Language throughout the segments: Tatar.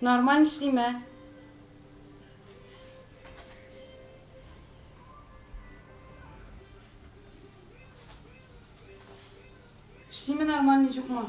Нормаль эшлиме? Эшлиме нормаль юкмы?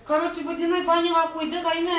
Короче, водяной баняга куйдык, әйме?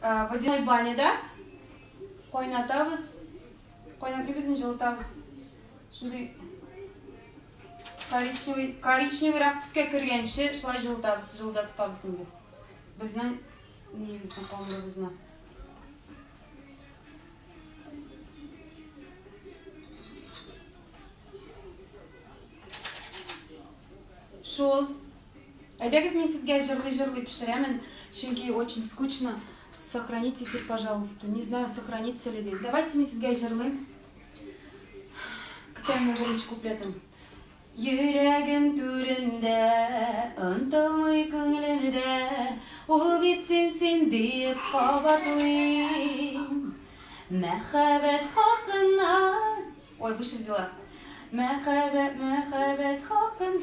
Э, водяной баняда кайнатабыз, кайнатмыйбыз, инде җылытабыз. Шундый коричневый, коричневыйрак төскә кергәнче шулай җылытабыз, җылыта тотабыз инде. Безнең ниебезне, камырыбызны. Шул Әйдәгез мин сезгә җырлый җырлый пешерәмен, чөнки очень скучно. Сохранить эфир, пожалуйста. Не знаю, сохранится ли ди. Давайте мин сезгә җырлыйм. Көтәм үземче куплетын. Йөрәгем түрендә, онтылмый күңелемдә, ул бит син син диеп кабатлыйм. Мәхәббәт хакына. Ой, выше взяла. Мәхәббәт, мәхәббәт хакын.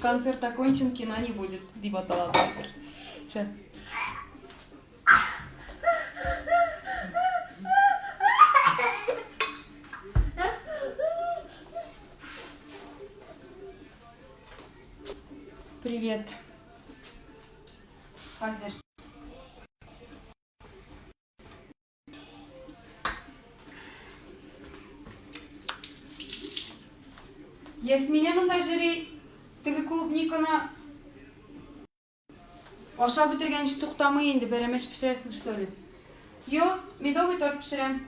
Концерт окончен, кино не будет, дип атала бардыр. Сейчас. Привет. Хазер. Ясминә монда жюри теге клубниканы ашап бетергәнче туктамый инде, бәрәмәч пешерәсең, что ли? Юк, медовый торт пешерәм.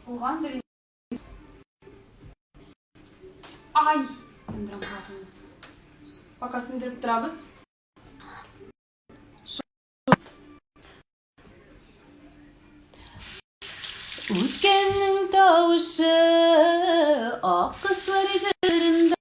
Булгандыр Ай! Сүндерәм хатын. Пока сүндереп торабыз. Үткәннең тавышы ак кышлар җырында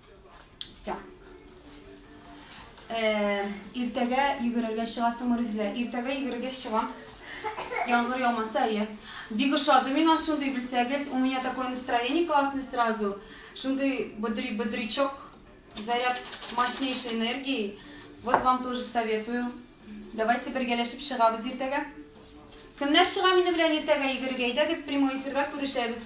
Все. Э, иртәгә йөгерергә чыгасыңмы, Рүзилә? Иртәгә йөгерергә чыгам. Яңгыр яумаса, әйе. Бик ошады миңа шундый белсәгез. У меня такое настроение классное сразу. Шундый бодри бодрячок, заряд мощнейшей энергии. Вот вам тоже советую. Давайте бергәләшеп чыгабыз иртәгә. Кемнәр чыга минем белән иртәгә йөгерергә? Әйдәгез прямой эфирда күрешәбез.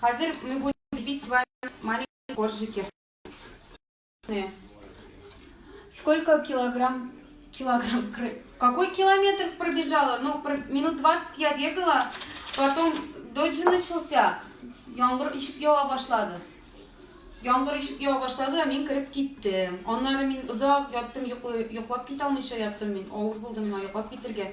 Хәзер мы будем лепить с вами маленькие коржики. Сколько килограмм килограмм. Какой километр пробежала? Ну, минут 20 я бегала, потом дождь начался. Яңгыр ишеп ява башлады. Яңгыр ишеп ява башлады, мин кереп киттем. Аннары мин озак яттым, йоклап китә алмыйча яттым мин. Авыр булды миңа йоклап китергә.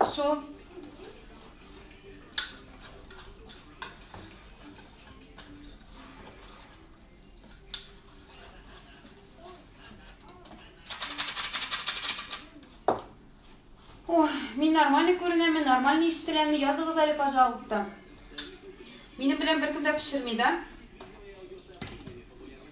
Все. Мин нормальный күренәме, нормальный ишетеләме, языгыз әле, пожалуйста. Минем белән беркем дә пешерми, да?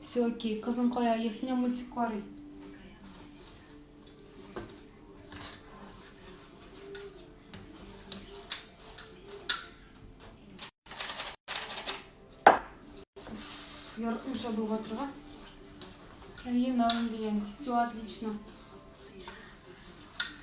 Все окей. Кызым кая? Ясмия мультик карый. Яркын шабыл батырга. Әйе, нам дигән. Все отлично.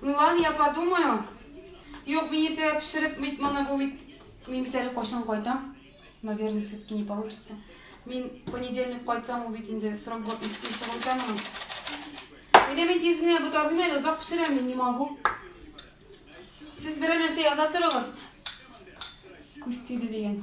Ну ладно, я подумаю. Юк, мин иртә пешереп бит моны бу бит. Мин бит әле кайчан кайтам? Наверное, все-таки не получится. Мин понедельник кайтсам, ул бит инде срок булып исти чыгып китәме? Инде мин тиз генә бу тартмый әле, озак пешерәм мин, не могу. Сез берәр нәрсә яза торыгыз. Күз тиде дигән.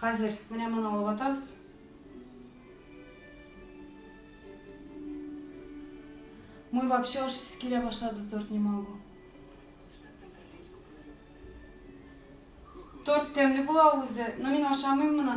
Хәзер менә моны алып атабыз. Мой вообще аж килә башлады торт не могу. Торт тәмле була ул үзе, но мин ашамыйм моны.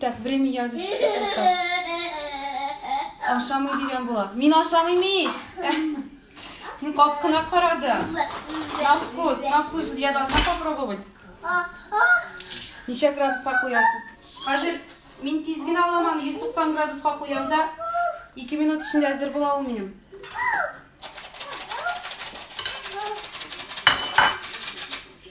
Так, время языйсы тота. Ашамый дигән була. Мин ашамыйм ич. Мин капкына карадым. На вкус, на вкус. Я должна попробовать. Ничә градуска куясыз? Хәзер мин тиз генә аламан, 190 градуска куям да 2 минут эчендә әзер була ул минем.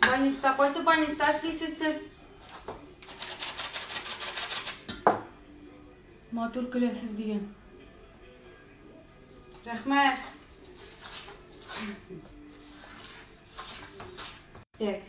Больниста. Кайсы больниста эшлисез сез? Матур көләсез дигән. Рәхмәт. Так.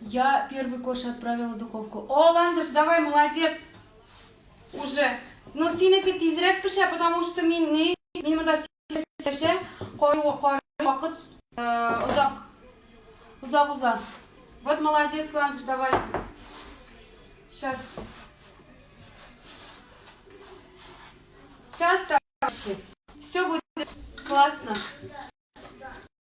Я первый корж отправила духовку. О, Ландыш, давай, молодец! Уже. Но синеке тизрәк пешә, потому что мин не... Мин монда сәшә, кой вакыт озак. Озак-озак. Вот молодец, Ландыш, давай. Сейчас. Сейчас, товарищи. Все будет классно.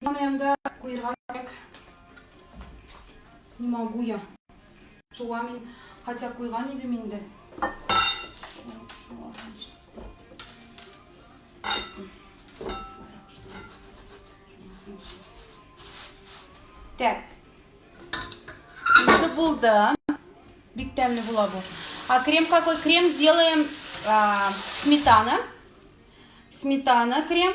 Янда куерга кирәк. Не могу я. Шуга мин, хотя куйган идем инде. Так. Уже булды. Бик тәмле була бу. А крем какой? Крем сделаем а, сметана. Сметана, крем.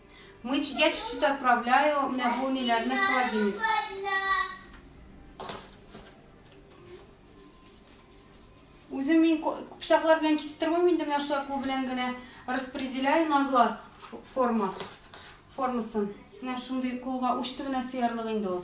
Мыч, я чуть-чуть отправляю, менә бу ниләрне в холодильник. Үзем мин пычаклар белән кисеп тормыйм инде, менә шулай кул белән генә распределяю на глаз форма формасын. Менә шундый кулга уч төбенә сыярлык инде ул.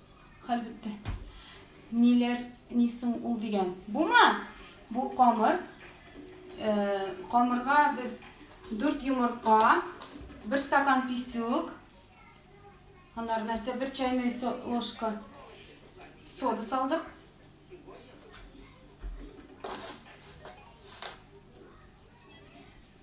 Хәл бетте. Ниләр, ни соң ул дигән. Бума! Бу камыр. Камырга без 4 йомырка, 1 стакан писюк, анар нәрсә, 1 чайный ложка сода салдык.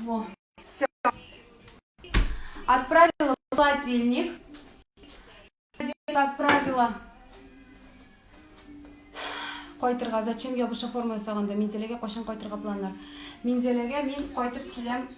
Во. Все. Отправила в холодильник. Отправила кайтырга зачем я буша форма ясаганда минзәләгә кайчан кайтырга планнар минзәләгә мин кайтып киләм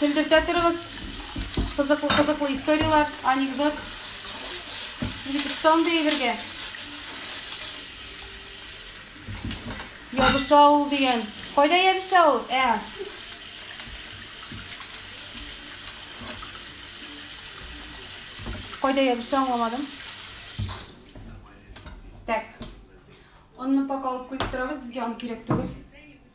Көлдертә торыгыз. Кызыклы-кызыклы историяләр, анекдот. Бик сондый әйбергә. Ябыша ул дигән. Кайда ябыша ул? Ә. Кайда ябыша аңламадым. Так. Онны пакалып куеп торабыз, безгә он кирәк түгел.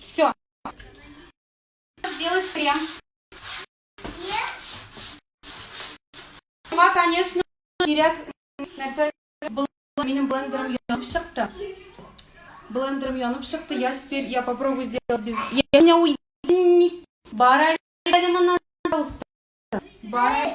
Все. Сделать крем. Шуңа, конечно, кирәк нәрсә был минем блендером янып чыкты. Блендером янып чыкты. Я теперь я попробую сделать без. Я не уйду. Бара, пожалуйста. Бара.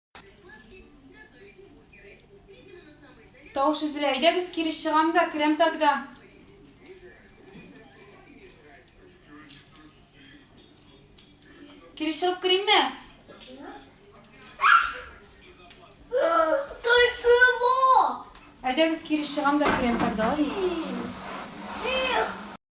Тавыш өзелә. Әйдәгез кире чыгам да, керәм тогда. Кире чыгып керимме? Әйдәгез кире чыгам да керәм тогда.